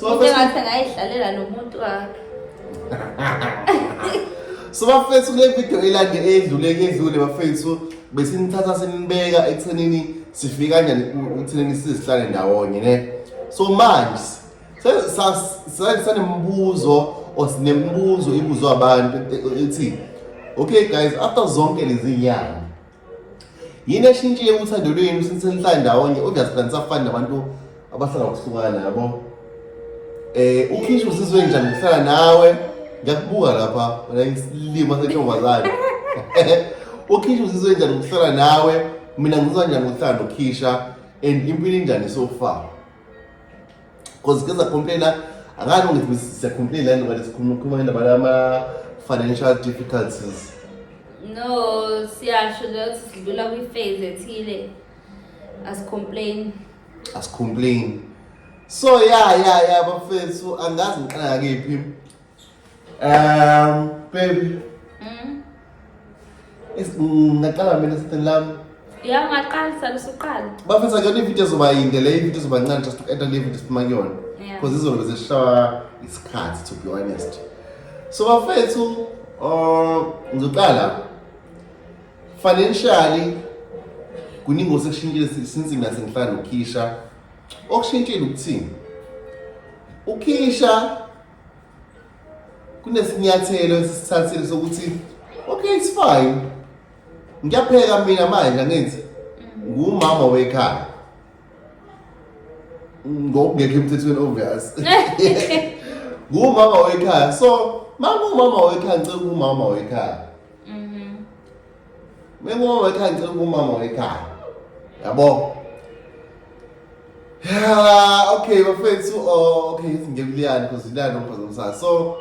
So Into bafethu engathi ngayidlalela nomuntu wakhe. so bafethu kule video elande edlule kedlule bafethu besinithatha sinibeka ekuthenini sifike kanjani ku- ekuthenini sizihlale ndawonye ne so manje se- sa- sa- sanemibuzo or sinemibuzo ibuzwa abantu e- e- ethi okay guys after zonke lezi nyanga yini eshintshile uthando lwenu since nihlala ndawonye obviously anisafani nabantu abahlala kuhlukana yabo eh ukhisha uzizwe njani ngihlala nawe ngiyakubuka lapha wena isilima sentombazane ukhisha uzizwe njani ngihlala nawe mina ngizwa njani uhlala nokhisha and impilo injani so far cause ke zakhomplaina angani ungithi siyakhomplaina nto kanti sikhuluma khuluma ngendaba lama-financial difficulties no siyasho nje ukuthi sidlula kwi-phase ethile asicomplain asicomplain so ya ya ya bafethu angazi ngiqala ngakephi Um, baby. Mm. Is mm, ngaqala mina sithini lami. Ya ngaqala sala usuqala. Bafethu akuyona ividiyo ezoba yinde le ividiyo ezoba ncane just to enter le vidiyo siphuma kuyona. Because izolo zishawa isikhathi to be honest. So bafethu uh ngizoqala financially kuningi osekushintshile since mina sengihlala nokhisha okushintshile ukuthini ukhisha kunesinyathelo esisithathile sokuthi okay it's fine ngiyapheka mina manje angenzi ngumama wekhaya ngokungekho emthethweni obvious ngumama wekhaya so mama umama wekhaya ngicela umama wekhaya Mengoma ekhaya ngicela kumama wekhaya. Yabo. Yeah, okay, bafethu. Oh, okay, ngiyabuliyani because ilana umphazamisa. So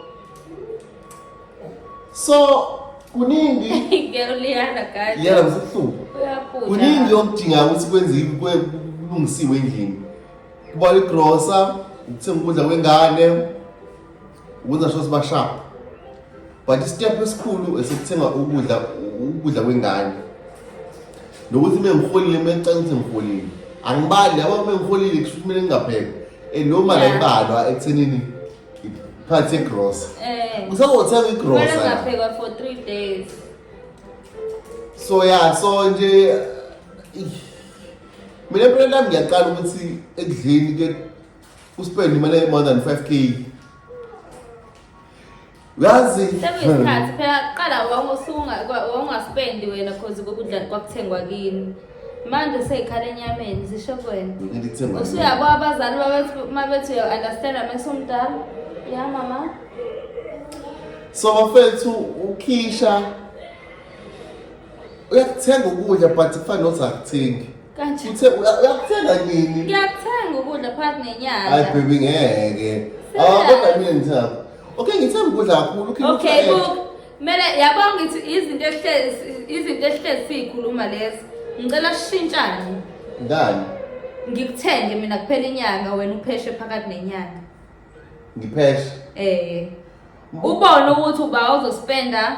So kuningi ngiyaliyana guys. Yena msihluku. Uyaphutha. Kuningi okudinga ukuthi kwenziwe kulungisiwe endlini. Kuba igrosa, ukuthenga ukudla kwengane. ukwenza sho siba sharp but isitephu esikhulu esikuthenga ukudla ukudla kwengane nokuthi uma ngiholile uma ecela ukuthi ngiholile angibali yabo uma ngiholile kusho ukuthi mina ngingapheka and loo mali ayibalwa ekuthenini phakathi yegrosa eh. usazothenga igrosaphekwa for three days so ya so nje mina empilweni lami ngiyaqala ukuthi ekudleni uspend imali e-more than 5 k uyazi sekuyisikhathi phela qala wawungaspendi wena cause kokudla kwakuthengwa kini manje seyikhala enyameni zisho kwena usuyabo abazali uma bethi uyo-understanda mesumdala ya mama so bafethu ukhisha uyakuthenga ukudla but kufane nothi akuthengi Kanje. Uthe uya- uyakuthenga nini? Ngiyakuthenga ukudla phakathi Hayi nenyanga. baby ngeke. Ah Siyaphi? kodwa mina ngithanda. Okay ngithanda ukudla kakhulu. Ukhe Okay, ngithanda. look. Mele yabo ngithi izinto ehlezi izinto ehlezi sizikhuluma lezi. Ngicela sishintshane. Ngani? Ngikuthenge mina kuphela inyanga wena upheshe phakathi nenyanga. Ngipheshe. Eh. Ubone ukuthi uba uzospenda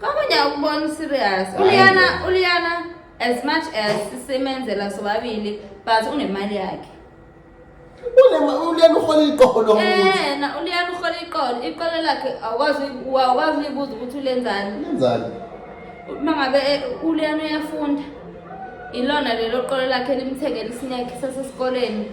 Kamunye akubona serious. Uliyana uliyana as much as simenzela sobabili but unemali yakhe. uliyana uhola iqoho lo muntu Yena uliyana uhola iqolo. Iqolo lakhe awukwazi awukwazi uyibuza ukuthi ulenzani. lenzani Uma ngabe eh, uliyana uyafunda. Ilona lelo qolo lakhe limthengela isineke sasesikoleni.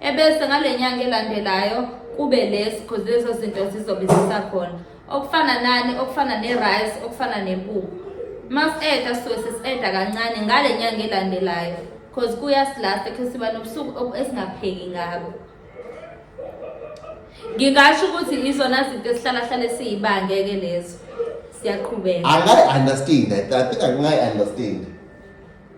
ebese ngale nyanga elandelayo kube lesi because lezo zinto zizobe zisakhona okufana nani okufana ne-rice okufana nempuphu uma si-eda sisuke sesi-eda kancane ngale nyanga elandelayo because kuyasilasta khe siba nobusuku esingapheki ngabo ngingasho ukuthi izona zinto esihlalahlale siyibangeke lezo siyaqhubeka angayi-understand i think angayi-understand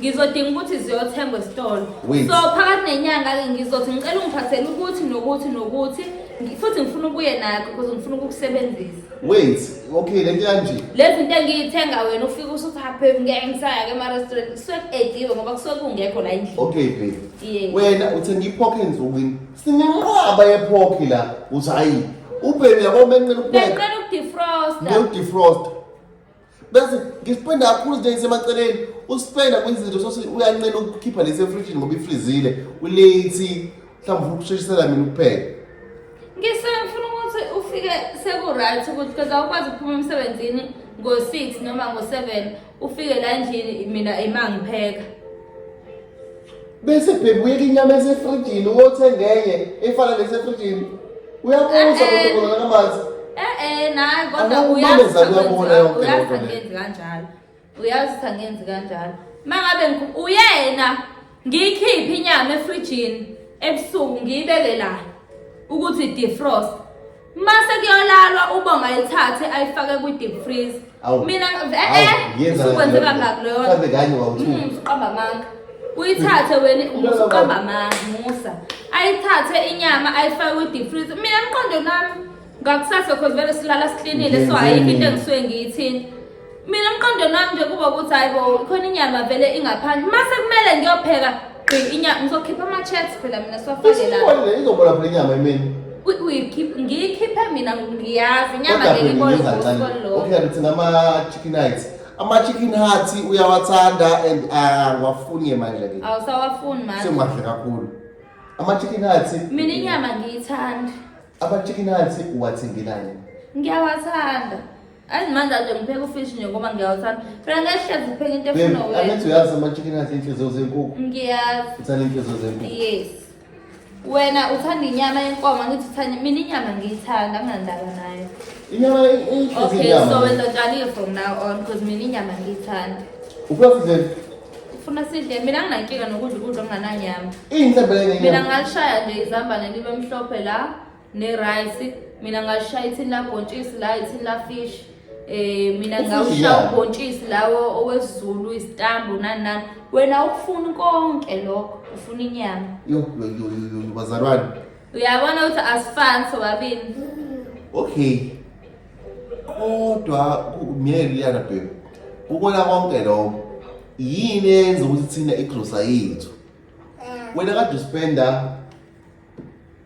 ngizodinga ukuthi ziyothengwa esitolo so phakathi nenyanga-ke ngizothi ngicela ungiphathele ukuthi nokuthi nokuthi futhi ngifuna ukuye nakho because ngifuna ukukusebenzisa wait okay lento yanje lezi nto engiyithenga wena ufike usuthi haphephi ngeke ngisaya-ke emarestaurant kusuke ku-ediwe ngoba kusuke kungekho la endlini okay babe yeah. wena uthenga iphokhe nsukwini sinenqwaba yephokhi la uthi hayi ubheni yabo benqela ukupheka benqela ukudefrosta ngiyokudefrosta bese ngispenda kakhulu izinto ezisemaceleni uspenda kwenza izinto sosi uyanqena ukukhipha lesi efrijini ngoba ifrizile ulethi mhlawumbe ufuna ukushishisela mina ukupheka ngisefuna ukuthi ufike sekuright ukuthi because awukwazi ukuphuma emsebenzini ngo-six noma ngo-seven ufike la endlini mina imangipheka bese bhebuyeka inyama esefrijini uyothenge enye efana nesefrijini uyabuza ukuthi eh, eh. ubona amanzi eh naye kodwa uyazi uyabona yonke uyazi angenzi kanjalo uyazi angenzi kanjalo mangabe uyena ngiyikhiphe inyama efrijini ebusuku ngiyibeke la ukuthi defrost Mase kuyolalwa ubonga ayithathe ayifake kwi deep freeze. Awu. Mina eh Awu, eh yenza usukwenzeka lento. ngakho leyo. Mhlambe kanye wawuthuka. Mm, usuqamba amanga. Uyithathe wena usuqamba amanga musa. Ayithathe inyama ayifake kwi deep freeze. Mina mqondo nami ngakusasa cause vele silala siklinile so ayikho into engisuke ngiyithini. mina emqondweni wami nje kuba ukuthi hayi bo khona inyama vele ingaphandle uma sekumele ngiyopheka gqi inyama ngizokhipha ama-chats phela mina siwafake la Usubolile izobola phela inyama emini. Uy- uyikhiphe- ngiyikhiphe mina ngiyazi inyama Kodwa ngeke phela ibole ngiza kancane. ngosuku olulodwa. Okay, ngithina ama-chicken heights. Ama-chicken heights uyawathanda and ah, ngiwafuni-ke manje ke. awusawafuni manje Sengiwadle kakhulu. Ama-chicken heights. mina inyama ngiyithanda Ama-chicken heights uwathengelani? ngiyawathanda Azi manje ade ngipheka ufish nje ngoba ngiyawuthanda. Phela ngehlezi ngipheka into efuna wena. Angithi uyazi ama-chicken athi inhliziyo zenkukhu. Ngiyazi. Uthanda inhliziyo zenkukhu. Yes. Wena uthanda inyama yenkomo ngithi uthanda mina inyama ngiyithanda anginandaba nayo. Inyama inhliziyo Okay, inyama. so wena utshalile from now on because mina inyama ngiyithanda. Ufuna sidleni? Ufuna sidle mina nginankinga nokudla ukudla okungananyama. Iyinhlebele Mina ngenyama. ngalishaya nje izambane libe mhlophe la. nerice mina ngashaya ithini labhontshisi la ithini lafish um mina ngawushaya ubhontshisi lawo owesizulu isitambu nani nani wena ukufuna konke lokho ufuna inyama bazalwane uyabona ukuthi asifani sobabini okay kodwa myeke liyana bheka ukona konke lokho yini eyenza ukuthi thina igrosa yethu wena kade uspenda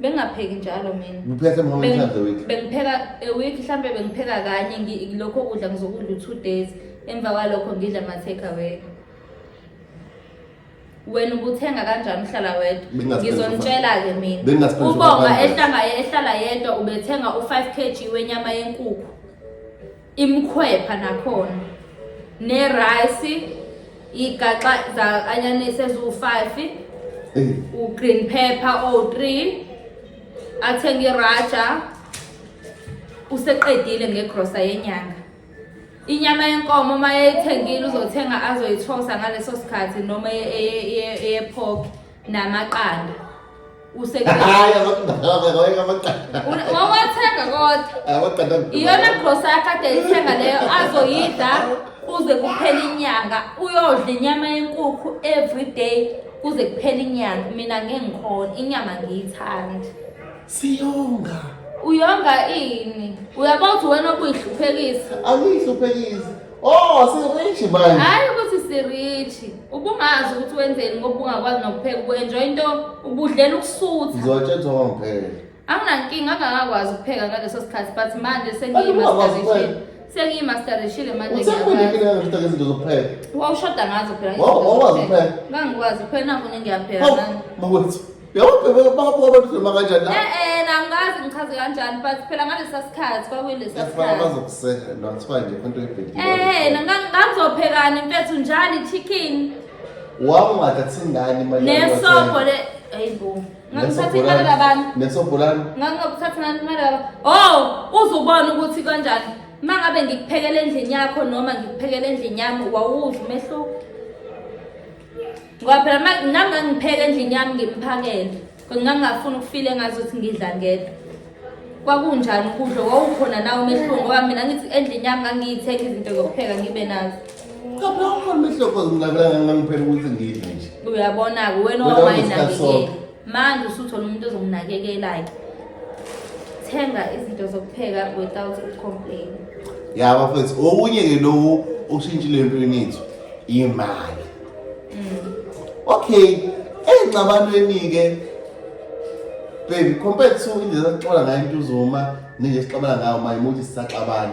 bengingapheki njalo mina ngiphethe more Beng- times a week bengipheka a week mhlambe bengipheka kanye ngi- lokho kudla ngizokudla u-two days emva kwalokho ngidla ama-take away wena ubuthenga kanjani uhlala wedwa Bengingaspend ngizontshela-ke mina Bengingaspend ubonga 500. ehlanga ehlala yedwa ubethenga u-five k g wenyama yenkukhu imkhwepha nakhona nerayisi igaxa za-anyanisi eziwu-five u-green pepper owu-three athenge iraja useqedile ngegrosa yenyanga inyama yenkomo uma yeyithengile uzothenga azoyithosa ngaleso sikhathi noma eyephoki namaqanda useawathenga kodwa iyona grosa yakade ithenga leyo azoyidla kuze kuphele inyanga uyodla inyama yenkukhu every day kuze kuphele inyanga mina ngengikhona inyama ngiyithandi siyonga uyonga ini uyabona ukuthi wena obuyihluphekisa awuyihluphekisi Oh, sirichi manje. Hayi ukuthi sirichi. Ubungazi ukuthi wenzeni ngoba ungakwazi nokupheka ubu-enjoy into ubudlela ukusutha. Ngizotshethwa ngempela. Anginankinga angakakwazi ukupheka ngaleso sikhathi but manje sengiyimasterishile. Sengiyimasterishile manje. Usekhulekile ngempela ngezinto zokupheka. Wawushoda ngazo phela. Wawukwazi ukupheka. Ngangikwazi ukuphela nangu ngiyapheka. Makwethu. yawubhebebabobabadloma kanjani la e-e nangazi ngichaze kanjani but phela ngalesa sikhathi kwakulesa yasifana sikhathi bazokusekela kuthiwa nje into ebhedile Eh, nanga- ngangizophekani mfethu njani chicken wawungathathi ingane imali nesobho le hayi bo ngangithatha imali kabani nesobholani ngangingakuthathi ngani imali kabani oh uzubona ukuthi kanjani uma ngabe ngikuphekela endlini yakho noma ngikuphekela endlini yami wawudla umehluko ngoba phela ma- nami ngangipheka endlini yami ngimphakele kodwa ngangingafuni ukufile ngazi ukuthi ngidla ngedwa kwakunjani ukudla wawukhona nawo umehluko ngoba mina ngithi endlini yami ngangiyithenga izinto zokupheka ngibe nazo Kabla ukhona umehluko ngingabela ngangiphela ukuthi ngidle nje. uyabona-ke wena Wena wawayi unesikhathi nakelela sonke. manje usuthola umuntu ozomnakekelayo thenga izinto zokupheka without ucomplain ya bafethu okunye ke lowo okushintshile empilweni yethu imali mm. okay engcabanweni-ke baby compared to indlela saxola ngayo into uzuma ninje sixabana ngayo mayimuthi sisaxabana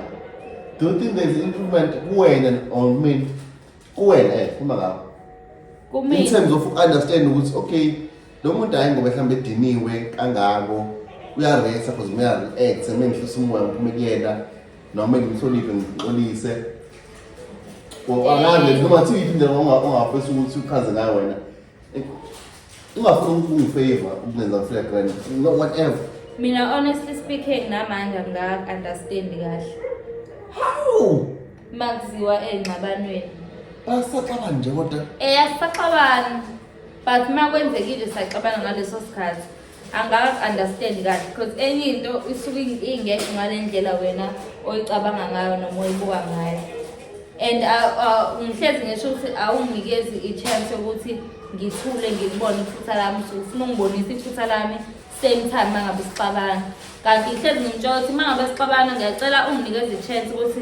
do you think there's improvement kuwena or mina kuwena eh uma ngakho kumina in terms of understand ukuthi okay lo muntu hayi ngoba mhlawumbe ediniwe kangako uyaresa because uyareact uma ngihlisa umoya ngiphume kuyena noma ngimhloniphe ngixolise angazi noma thithi indlela ongafisa ukuthi uchaze ngayo wena ungafuni ukungifavor ukungenza ngifika grand no whatever mina honestly speaking namanje angika-understand kahle how makuziwa engxabanweni basaxabana nje kodwa eya sisaxabana but uma kwenzekile saxabana ngaleso sikhathi angazi understand kahle because enye into isuke ingekho ngale ndlela wena oyicabanga ngayo noma oyibuka ngayo and ngihlezi ngisho ukuthi awunginikezi i-chance yokuthi ngithule ngikubone iphutha lami usuke ufuna ungibonisa iphutha lami same time uma ngabe sixabana kanti ngihlezi ngimtshola ukuthi uma ngabe sixabana ngiyacela unginikeze i-chance ukuthi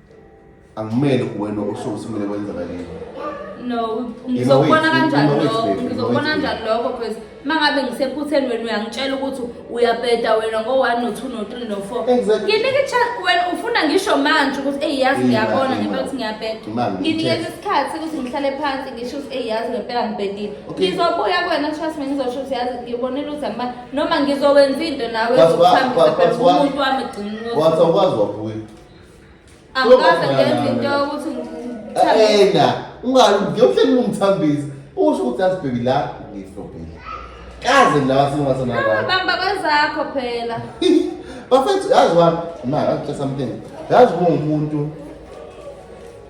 Angimele kuwena usho usimele kwenzakaleni. No, ngizokubona kanjani lokho? Ngizokubona kanjani lokho because mangabe ngisephutheni wena uyangitshela ukuthi uyabheda wena ngo-1 no-2 no-3 no-4 nginike ichance wena ufuna ngisho manje ukuthi eyi yazi ngiyabona ngempela ukuthi ngiyabheda nginikeza isikhathi ukuthi ngihlale phansi ngisho ukuthi eyi yazi ngempela ngibhedile ngizobuya kuwena trust me ngizosho ukuthi yazi ngibonile ukuthi angima noma ngizokwenza into nawe umuntu wami gcina ukuthi wathi awukwazi wabuya angikaze ngenza into yokuthi ena ungayi ngiyohleli ungithambisa usho ukuthi asibheki la ngiflobhile kaze ngilaba singathana abantu bamba kwezakho phela bafethu yazi wami ma ngakutshela something yazi uma umuntu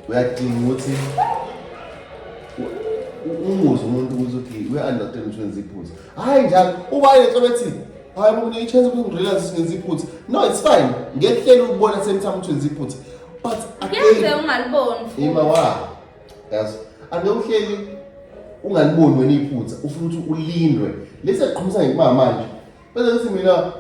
uyadinga ukuthi umuzi umuntu ukuthi uthi we-understand ukuthi wenza iphuza hhayi njalo uba yetho bethi hayi bo ngine chance ukuthi ngirealize ngenza iphutha no it's fine ngehlela ukubona same time ukuthi ngenza iphutha but ngeke ungaliboni ima wa yazi ake uhleli ungaliboni wena iphutha ufuna ukuthi ulindwe lesi aqhumisa ngekuma manje bese ngithi mina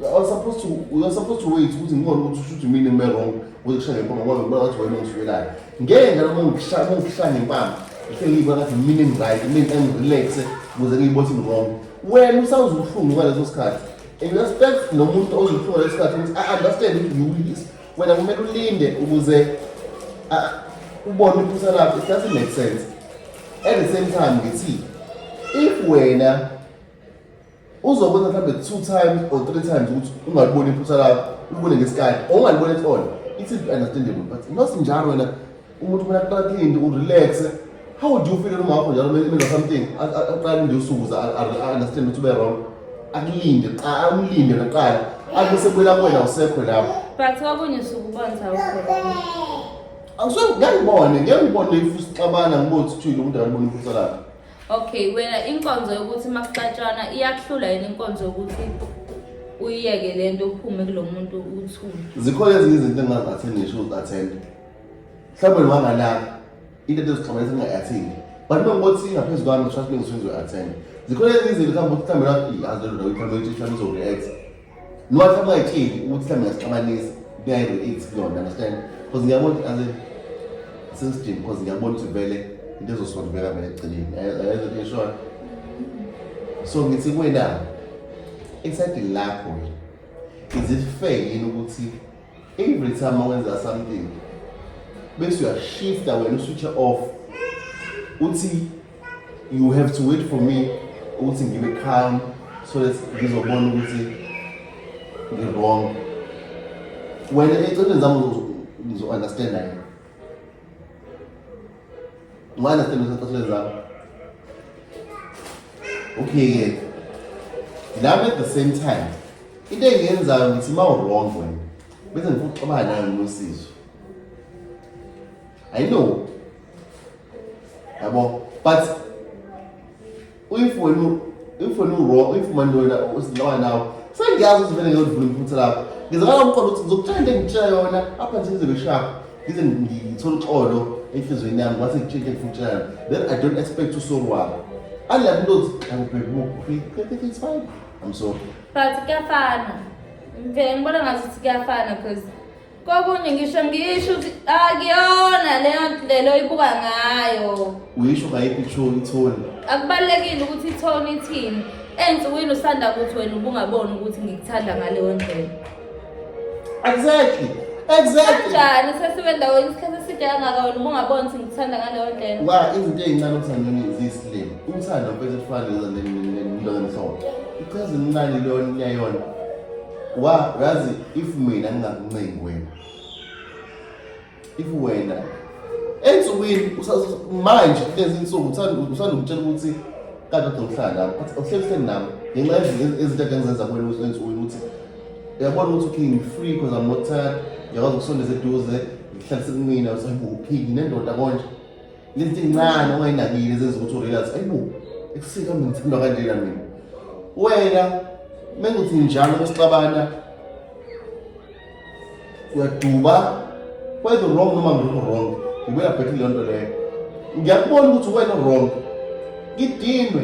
i was supposed to we were supposed to wait ukuthi ngibone ukuthi ushuthi mina ngime wrong ukuthi kushaya ngempama ngoba ngibona ukuthi wena ungisuwelayo ngeke ngalo ngikushaya ngikushaya ngempama ngihleli ngibona ngathi mina ngiright mina ngirelaxe ukuze ngiyibone ukuthi ngirong wena usawuza ubuhlungu ngaleso sikhathi and respect nomuntu ozwa ubuhlungu ngaleso sikhathi ukuthi i understand ukuthi you will this wena kumele ulinde ukuze ah, ubone iphutha lakho it doesn't make sense at the same time ngithi if wena uzokwenza mhlawumbe two times or three times ukuthi ungaliboni iphutha lakho ulibone ngesikhathi or ungaliboni at all it's understandable but not njalo wena umuntu kumele aqale into urelaxe how do you feel noma wakho njalo kumele imenza something A- a- aqale nje usuku za a- a- a- understand ukuthi ube wrong akulinde qa- amlinde naqala abe sebuyela kuwena usekho lapho but kwakunye usuku ubonza ukhona angisuke ngiyangibone ngiyangibone if usixabana ngibone ukuthi uthile umuntu akaboni iphutha lakhe okay wena inkonzo yokuthi uma kuxatshana iyakuhlula yini inkonzo yokuthi uyiyeke le nto uphume kulo muntu uthule zikhona ezinye izinto engingathi ngisho uzathende mhlawumbe ngiwangalapha into endizixabana zinga-athini but uma ngothi ngaphezu kwami trust me ngisuke ngizoyi-attend zikhona ezinye izinto mhlawumbe ukuthi mhlawumbe laphi azi lelo ndawo mhlawumbe ukuthi mhlawumbe izo-react noma mhlawumbe ungayitsheli ukuthi mhlawumbe ngasixabanisa kuyayi-react kuyona understand because ngiyabona ukuthi azi sensidini because ngiyabona ukuthi vele into ezosondubeka vele egcineni ayezot ngishona so ngithi kwena esadini lakho is it fair yini ukuthi Every time wenza something bese uyashifta wena uswitch off uthi you have to wait for me ukuthi ngibe calm so that ngizobona ukuthi ngi-wrong wena eceleni zami ngizo-understanda yena Mwana sithembe sasathathelwe zabo. Okay-ke. Lami at the same time. Into engiyenzayo ngithi uma u-wrong wena. Bese ngifuna ukuxabana nayo nosizo. I know. Yabo, but if wena if wena uwrong if manje wena usinqaba nawe sengiyazi ukuthi vele ngiyodlula iphutha lakho ngizakala umqondo ukuthi ngizokutshela into engitshela yona apha nje ngize ngishaphe ngize ngithole uxolo enhliziyweni yami wathi ngitshintshe ngifutshela then i don't expect usorwala unlike into othi angibhekumukhri it's fine i'm sorry but kuyafana ngivele ngibona ngazuthi kuyafana because Kokunye ngisho ngisho ukuthi akuyona leyo ndlela oyibuka ngayo. Uyisho ngayiphi ithoni ithoni? Akubalulekile ukuthi ithoni ithini. Ensukwini usanda ukuthi wena ubungaboni ukuthi ngikuthanda ngaleyo ndlela. Exactly. Exactly. Kanjani sesibe ndaweni isikhathi eside kangaka wena ubungaboni ukuthi ngikuthanda ngaleyo ndlela. Wa izinto ezincane okuthandweni ziyisilima. Umthanda ufethu ufana nezanto nendoda enhloko. Ichaza incane leyo nyayona. wa yazi if mina ngingakuncengi wena if wena ensukwini manje kulezi insuku usanda ukutshela ukuthi kade udokuhlala lapho but uhleli hleli nami ngenxa yezinto ake ngizenza kuwena ensukwini ukuthi uyabona ukuthi okay ngi-free because i'm not tired ngiyakwazi ukusondeza eduze ngihlalise kumina usayibuphiki nendoda konje Lento incane ongayinakile zenza ukuthi urealize ayibo ekusika mina ngithanda kanjena mina. Wena menguthi njalo besixabana uyaduba whether wrong noma ngikho wrong ngibuya back leyo nto leyo ngiyakubona ukuthi wena wrong ngidinwe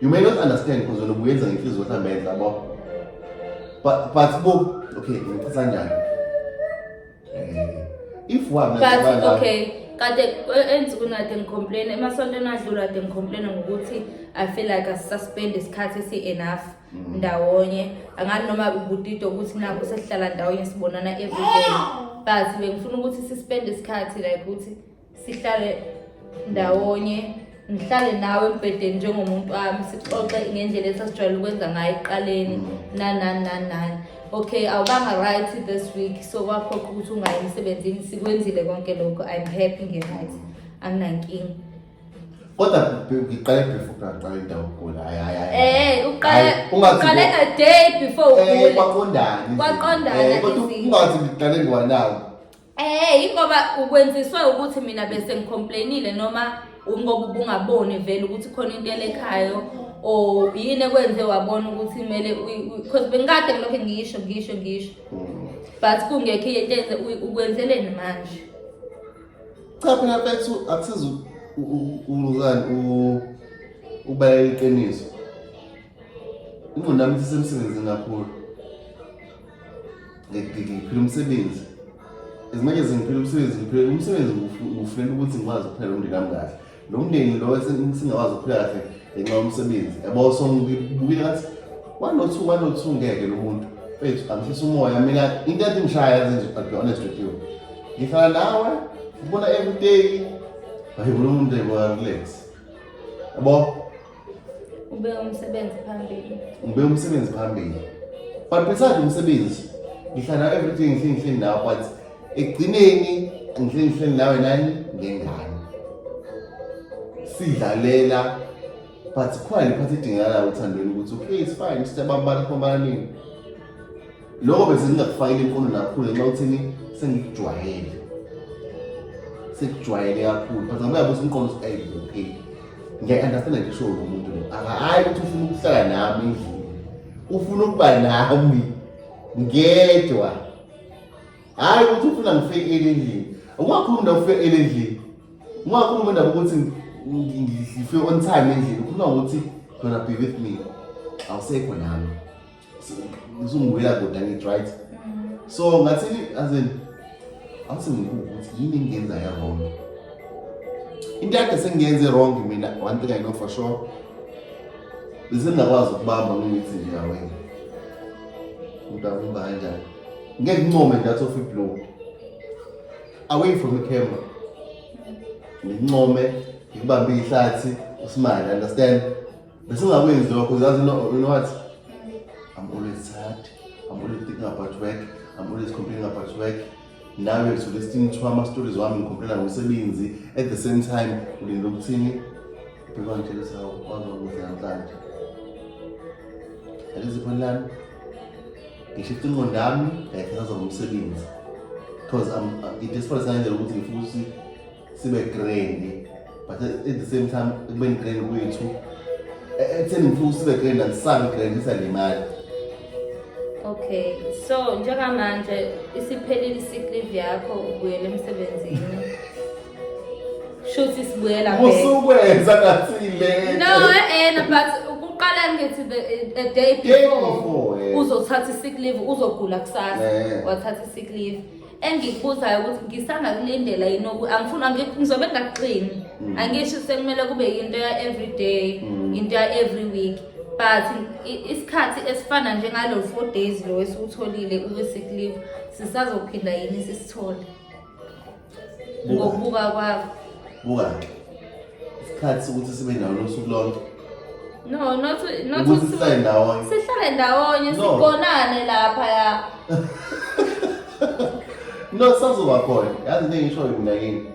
You may not understand because wena ubuyenza ngenhliziyo mhlawumbe enhle yabo. But but bo okay, ngicela kanjani? Eh, if one But okay, kade eh, enzi kunade ngicomplain emasontweni adlula kade ngicomplain ngokuthi I feel like I suspend isikhathi esi enough mm. ndawonye. Angani noma ubutito ukuthi nabo sesihlala ndawonye sibonana every day. But bengifuna ukuthi suspend isikhathi like ukuthi sihlale ndawonye ngihlale nawe embhedeni njengomuntu wami sixoxe ngendlela esasijwayele ukwenza ngayo ekuqaleni nanani nanani okay awubanga right this week so kwaphoqa ukuthi ungayi emsebenzini sikwenzile konke lokho i'm happy nge-right anginankinga kodwa ngiqale before ngaqala indawo ukugula hayi hayi hayi eh uqale uqale a day before eh, ugule kwaqondana kwaqondana eh, kodwa ungathi ngiqale ngwanawo Eh ingoba ukwenziswe ukuthi mina bese ngicomplainile noma ngoba ubungaboni vele ukuthi khona into elekhayo or yini ekwenze wabona ukuthi kumele because bengikade ngilokhu ngisho ngisho ngisho mm. but kungekho into enze ukwenzeleni manje cha phela bethu akusizi uzani ubaleka iqiniso ingqondo yami isesemsebenzini kakhulu ngiphila umsebenzi as much as ngiphila umsebenzi ngiphila umsebenzi ngifela ukuthi ngikwazi ukuphela umndeni wami kahle lo mndeni lo singakwazi ukuphila kahle ngenxa yomsebenzi yabo so ngibukile ngathi one or two one or two ngeke lo muntu mfethu angishisa umoya mina into ethi ngishaya yazi nje but be honest with you ngihlala nawe ngibona everyday hayi umuntu ayibona relax yabo Ubeka umsebenzi phambili. Ubeka umsebenzi phambili. But besides umsebenzi, ngihlala everything ngihleli ngihleli nawe but ekugcineni ngihleli ngihleli nawe nani ngengane. Sidlalela but khona le phathi idingakalayo uthandweni ukuthi okay it's fine sisebambana khomana nini. Lokho bese ngingakufakile imfundo kakhulu ngenxa yokuthini sengikujwayele. Sekujwayele kakhulu. But ngabe yabuza umqondo ukuthi ayi okay. Ngiya-understand ngisho lo muntu lo. Akahayi ukuthi ufuna ukuhlala nami endlini. Ufuna ukuba nami ngedwa. Hayi ukuthi ufuna ngifekele endlini. Ungakhulumi ndawo ufekele endlini. Ungakhulumi ndawo ukuthi ngifike on time endlini. Ukhuluma ngokuthi gonna be with me. I'll say for now. usungibuya kude angithi right so ngathi as in awuthi ngibuka ukuthi yini engiyenza ya-wrong into yakhe sengiyenze wrong mina one thing i know for sure besengingakwazi ukubamba ngithi nje awena umuntu akumba kanjani ngeke ngincome nje athi ofiblow away from the camera ngincome ngikubambe ihlathi usimane understand Besingakwenzi lokho uzazi you know what? I'm always sad. I'm always thinking about work. I'm always complaining about work. Nawe ngisuke sithintwa ama stories wami ngicomplaina ngomsebenzi at the same time ulinde ukuthini? Bheka ngitshela sawo kwazi ukuthi namhlanje. Alizi phone lami. Ngishifta ingqondo yami ngayithatha ngomsebenzi. Because I'm, I'm desperate ngandlela ukuthi ngifuna ukuthi sibe grand but at the same time ekubeni grand kwethu ekutheni ngifuna usibe grand andisabe grand isalimali okay so njengamanje isiphelile i-sick yakho ubuyele emsebenzini shuthi sibuyela usukwenza ngathile no eh but uqala ngithi the a day before uzothatha i-sick leave uzogula kusasa wathatha i-sick leave engikubuzayo ukuthi ngisangakulindela yini oku angifuni angi- ngizobe ngingaqini Mm. angisho sekumele kube yinto ya every day Mm. into ya every week but i- isikhathi esifana njengalo four days lo esiwutholile kwi-sick leave sisazophinda yini sisithole Bu- ngokubuka kwakho buka-ke isikhathi sokuthi sibe ndawonye usuku lonke no not not ukuthi sihlale ndawonye sihlale ndawonye sigonane lapha ya no sazoba khona yazi into engishoyo mina yini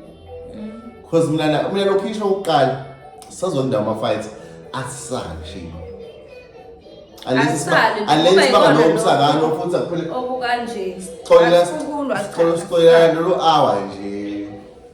because mm. mina mina lokhu isho ukuqala sazonda ama-fight asisale shima unless banganomsakano futhi akuphele okukanje sixolela sixolela lolu hour nje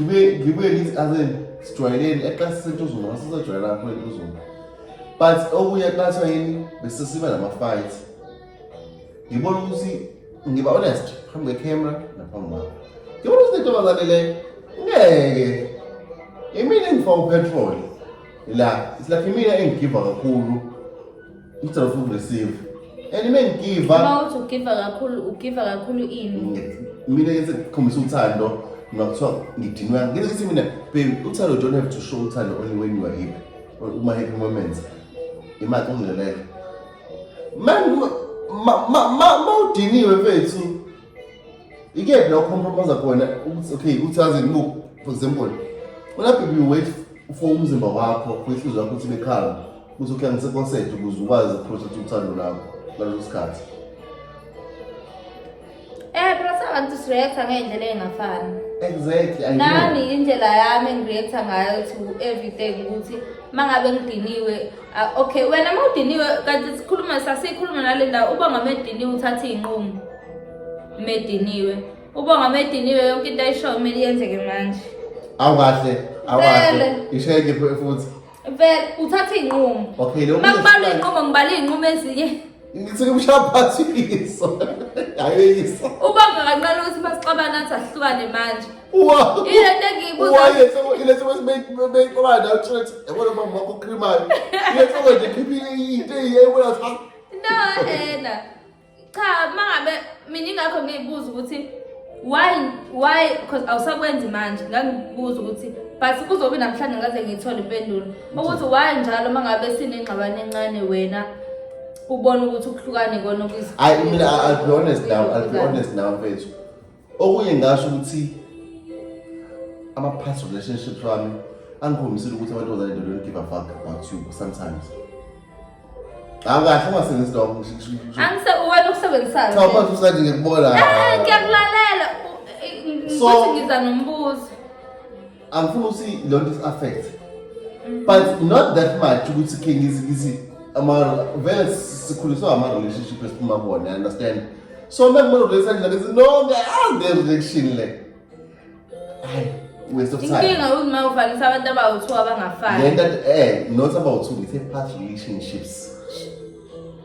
ngibuyelini azeni sijwayeleni eqasi sentuzuma masisajwayela lapho entuzuma but okunye eqathwa yini besesiba nama-fight ngibona ukuthi ngiba honest phambi kwecamera naphambi kwakho ngibona ukuthi lentombazane le ngeke imina engifaka upetrol la isilapha imina engigiva kakhulu It's a food receive. And me ngigiva. Uma uthi ugiva kakhulu, ugiva kakhulu ini? Mina ngise khombisa uthando ngakuthiwa ngidinwa. Ngeke sithi mina baby uthando don't have to show uthando only when you are happy. Or uma happy moments. Imali ungelele. Man ma ma ma udiniwe mfethu. ikephi la ucompromise khona ukuthi okay ukuthi azi look for example ulapho you wait for umzimba wakho for inhliziyo yakho ukuthi bekhanga ukuthi okay ngiseconcert ukuze ukwazi ukuprotect uthando lakho ngaleso sikhathi Eh bro sabantu sireacta ngendlela engafani. Exactly. I Nami indlela yami ngireacta ngayo to everything ukuthi mangabe ngidiniwe Ah, okay wena uma udiniwe kanti sikhuluma sasikhuluma nale ndawo uba ngamediniwe uthatha iy'nqumo mediniwe uba ngamediniwe yonke into ayishoyo kumele yenzeke manje awukahle awukahle ishayeke futhi vele uthatha iy'nqumo okay makubalwa iy'nqumo ngibala iy'nqumo ezinye Ngithi kumshaphathi iso. Ayiso. Ubanga kancane ukuthi masixabana athi ahlukane manje. Wow. Ile nto engiyibuza. Wow, ile soko ile soko sibeyixabana la uthule ukuthi yabona mama wakho ukrimayo. Ile soko nje khiphi into eyibona cha. No, ena. Cha, mangabe mina ingakho ngiyibuza ukuthi why why because awusakwenzi manje ngangibuza ukuthi but kuzobe namhlanje ngaze ngiyithole impendulo ukuthi why njalo uma ngabe sinengxabano encane wena ubona ukuthi ukuhlukane kona okuyizikho hayi mina I- I'll be honest now I'll be honest now mfethu okunye ngasho ukuthi ama past relationships wami angikhombisile ukuthi amantombazane they don't give a fuck about you sometimes akahle ungasebenzisi lokho angise uwena ukusebenzisayo cha manje usanje ngikubona eh, eh ngiyakulalela ukuthi ngiza nombuzo angifuni ukuthi lo nto is-affect mm. but not that much ukuthi khe ngizi ama vele sikhuliswa ama-relationship esiphuma kuwona understand so uma kumele ukulethani lake no ngiyazi le-reaction le waste of time inkinga uzima ufanisa abantu abawu-two abangafani lento eh not abawu-two ngithe past relationships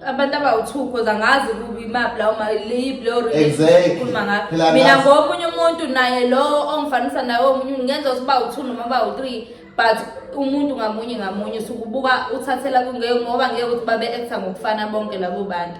abantu abawu-two cause angazi imaphi lawo leyiphi leyo relationshipkhuluma ngayo mina ngomunye umuntu naye lowo ongifanisa naye omunye ngenza ukuthi bawu-two noma bawu-three but umuntu ngamunye ngamunye sukubuka uthathela kungeke ngoba ngeke ukuthi babe-acta ngokufana bonke labo bantu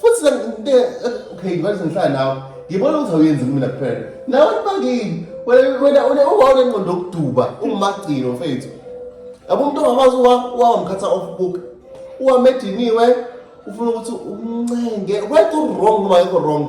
futhi senginte okay ngibathi ngihlala nawe ngibona ukuthi awuyenzi kumina kuphela nawe kubangini wena wena ungawona ingqondo yokuduba ungumagcino mfethu yabo umuntu ongakwazi wawamkhatha off book uwamediniwe ufuna ukuthi umncenge wekho wrong noma yekho wrong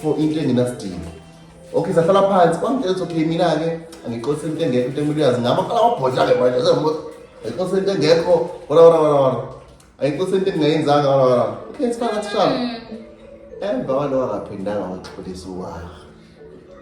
for into engenasidingo okay sahlala phansi kwamtshela ukuthi okay mina-ke angixosi into engekho into emile uyazi ngami aqala wabhodla-ke manje ayixosi into engekho wala wala wala wala ayixosi into engingayenzanga wala wala okay sifana sishana emva kwalowo akaphindanga waxolisa uwaha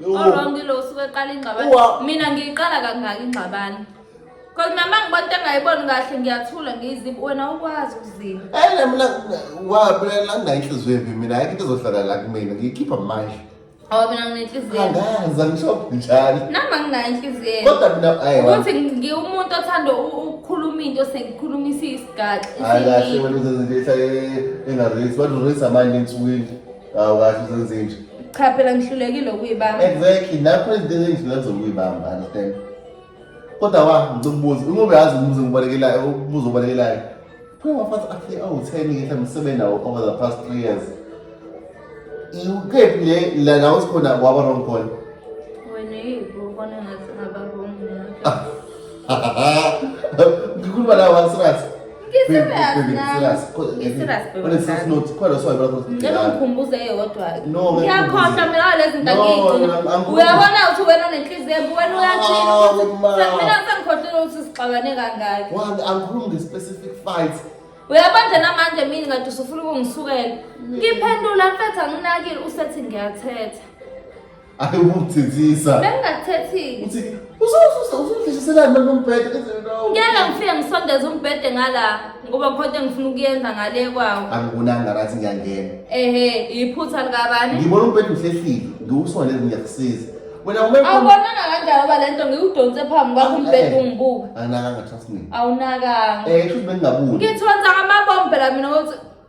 Wrong lo usuke eqala ingxabano. Mina ngiyiqala kangaki ingxabano? Cause mama ngibona into engayiboni kahle ngiyathula ngiyiziphi wena ukwazi ukuzipha. Ene mina wabela ngayinhliziyo yephi mina ayikho into ezohlala la kumina ngiyikhipha manje. Awu mina nginenhliziyo. Angazi angisho njani. Nami anginayo inhliziyo. Kodwa mina ayi. Ukuthi ngiwumuntu othanda ukukhuluma into sengikhulumisa isigaxa. Hayi kahle wena uzenza into engareisi. Bantu reisa manje ensukwini. Awu kahle uzenze nje. Cha phela ngihlulekile ukuyibamba. Exactly. Nakho izinto engizilwenza ukuyibamba, understand? Kodwa wa ngikubuza, uma uyazi umbuzo ngibalekelayo, umbuzo obalekelayo. Phela wafathi athi awu 10 ngithe msebenzi nawo over the past 3 years. Ikephi le la nawo sikhona waba wrong khona? Wena yini ubona ngathi ngaba wrong. ngikhuluma la one serious ngikhumbuze eyodwa ngiyakhohlwa mina walezi ntakigcina uyabona ukuthi wena nenhliziyo embi wena uyathina sengikhohlile ukuthi sixabane kangaki angikhulumi nge-specific fight uyabanje namanje mina ngathi usufuna ukungisukela ngiphendula mfethu anginakile usethi ngiyathetha Ayi ukuthethisa. Bengingathethile. Uthi uzosusa uzodlishiselani manje umbhede enze nawo. Ngeke ngifike ngisondeze umbhede ngala ngoba khona engifuna ukuyenza ngale kwawo. Angibonanga ngathi ngiyangena. Ehe, iphutha likabani? Ngibona umbhede uhlehlile, ngiwusole ngiyakusiza. Wena ume Awubonanga kanjani ngoba lento ngikudonse phambi kwakho umbhede ungibuka. Anginakanga trust me. Awunakanga. Eh, kusho ukuthi bengingabuki. Ngithonsa ngamabombe la mina ukuthi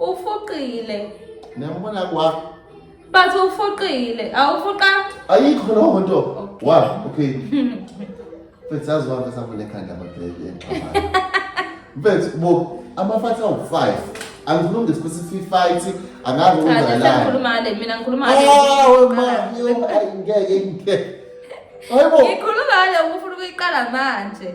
Ufuqile. Niyambona kwa? Bathi ufuqile. Awufuqa? Ayikho lo nto. Wa, okay. Mfethu yazi wami esavule ekhanda ababheki enxabana. Mfethu bo amafathi awu-5 angilungi specific fight angazi ukwenzakalani. Ngikhuluma le mina ngikhuluma le. Ah, wema, ngeke ngeke. Hayibo. Ngikhuluma le ufuna ukuyiqala manje.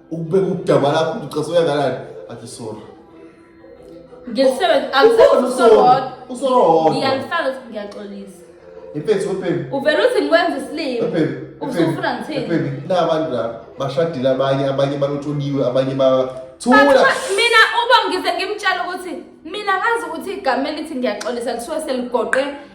ukubeka udaba lakho ucaso uyakalani athi sorry ngiyaxolisa impethu webhemi uvele uthi ngikwenza isilima usufuna ngithini na abantu la bashadile abanye abanye balotsholiwe abanye ba thula mina uba ngize ngimtshela ukuthi mina ngazi ukuthi igama elithi ngiyaxolisa lisuke seligoqe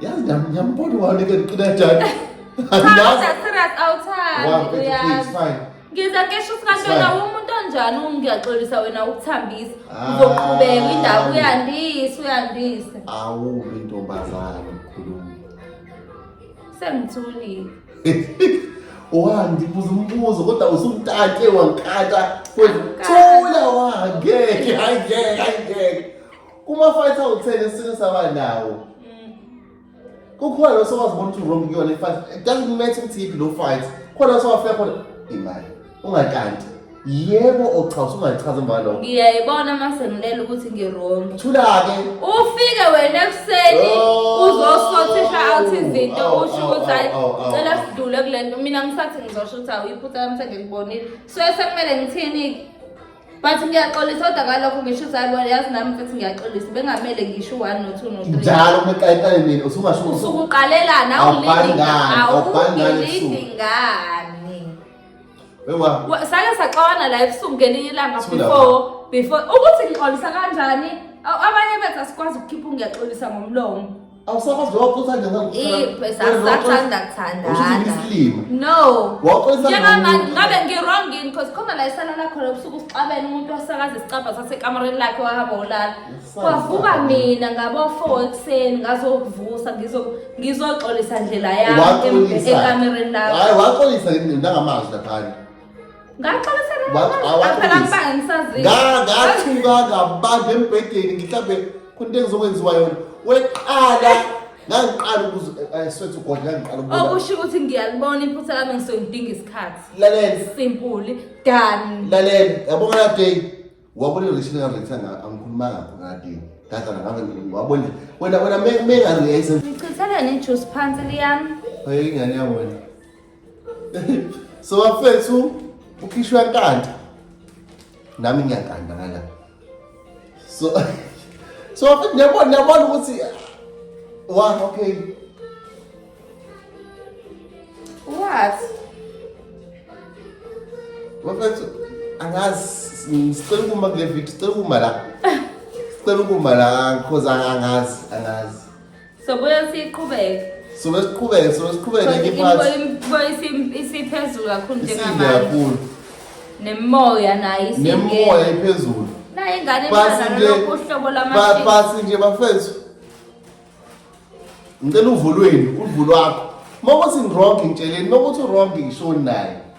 Yazi nam ngiyambona wami ke ndiqina njani. Andazi. Serious awuthandi. Wow, baby, please, uyazi. fine. Ngiza kesho usikantwana Sibaya. umuntu onjani ungiyaxolisa wena ukuthambisa. Ah. Uzoqhubeka indaba uyandisa uyandisa. Awubi intombazane mkhulumi. Sengithulile. Wandi buza umbuzo kodwa usumtate wankata. Thula wangeke, ayingeke, ayingeke. Kuma fight awuthele isini saba nawo. Mm. Kukhona lo sowazibona ukuthi wrong kuyona ifight. It doesn't matter ukuthi yiphi lo fight. Khona sowafika khona imali. Ungakanti. Yebo ochaza ungachaza imali. Ngiyayibona mase ngilela ukuthi ngirong. Thula ke. Ufike wena ekuseni oh. uzosothisha out izinto oh, usho oh, ukuthi hayi cela sidlule kulento. Mina ngisathi ngizosho ukuthi awuyiphutha lamse ngikubonile. So esekumele ngithini? but ngiyaxolisa kodwa ngalokho ngisho ukuthi hayi yazi nami mfethu ngiyaxolisa bengamele ngisho u-one no-two no-three njalo uma eqayitane mina usungasho ukuthi usukuqalelana Awubhali ngani, awubhali ngani ebusuku. awulidi ngani wewa Wa- sake saxawana la ebusuku ngelinye ilanga Sifunda before before ukuthi ngixolisa kanjani A- abanye bethu asikwazi ukukhipha ungiyaxolisa ngomlomo awusakwazi lowo futhi angena sathanda kuthandanasilima no njengamanje ngabe ngi-wrong yini because khona la esalala khona ubusuku usixabene umuntu wasakaza isicabha sasekamareni lakhe wahamba wolala kwavuka mina ngabofo ekuseni ngazokuvusa ngizoxolisa ndlela yami ekamereni lakhe waxolisa ngamazwi laphana ngathuka ngabanda embhedeni ngihlambe khona into engizokwenziwa yona weqala ngangiqala ukusethi ugodla ngangiqala ukuba okusho ukuthi ngiyalibona iphutha lami ngisuke ngidinga isikhathi lalela simpuli done lalela yabona la day wabona irishini ngarethi angikhuluma ngakho ngala day ngazana ngabe wabona wena wena mengarethi ngichitheleni ijuice phansi liyami hey ingane yami wena so bafethu ukhishwa nkanta nami ngiyakanda ngala so so bafethu niyabona niyabona ukuthi wa okay what bafethu angazi ngicela ukuma kule video sicela ukuma la sicela ukuma la because angazi angazi So buya siqhubeke. So besiqhubeke, so besiqhubeke Because ngenye imbo- iphathi. imbo isi- isiphezulu kakhulu Isinde njengamanje. kakhulu. Nemoya nayo isinde. Nemoya iphezulu. Nayo ingane Pasi ifana nje. nalokhu uhlobo Ba- lwamashini. Pasi nje bafethu. Ngicela uvulweni, uvulwakho. Uma ukuthi ngirong ngitsheleni, uma ukuthi urong ngishoni naye.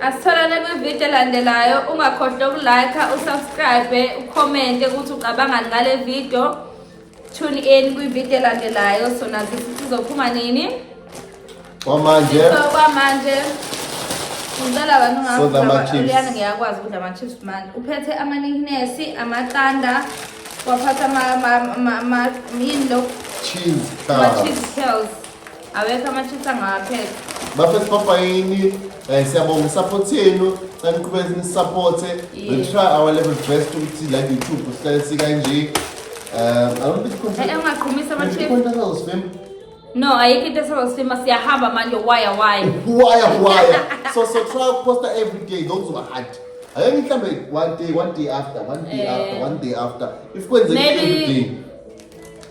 asitholane kwividiyo elandelayo ungakhohlwa ukulike usubscribe ukhomente ukuthi ucabangani ngale vidiyo tune in kwividiyo elandelayo so nazi sithi sizophuma nini kwamanje kwamanje ngicela abantu ngauliyana ngiyakwazi ukudla ama-chips manje uphethe amaniknesi amaqanda waphatha yini lo cheese curls awekho ama-chips angawaphela bafethu papayini um eh, siyabonga isupport yenu saniqhubeke nisupporte we try our level best ukuthi la youtube sihlale sikanje um i don't think content- Eh, ungaqhumisa ama-chips content was fame no ayikho into esazosifima siyahamba manje waya waya waya waya so so try ukuposta every day those were hard ake ngihlambe one day one day after one day Eh. after one day after if kwenzeka every Maybe- day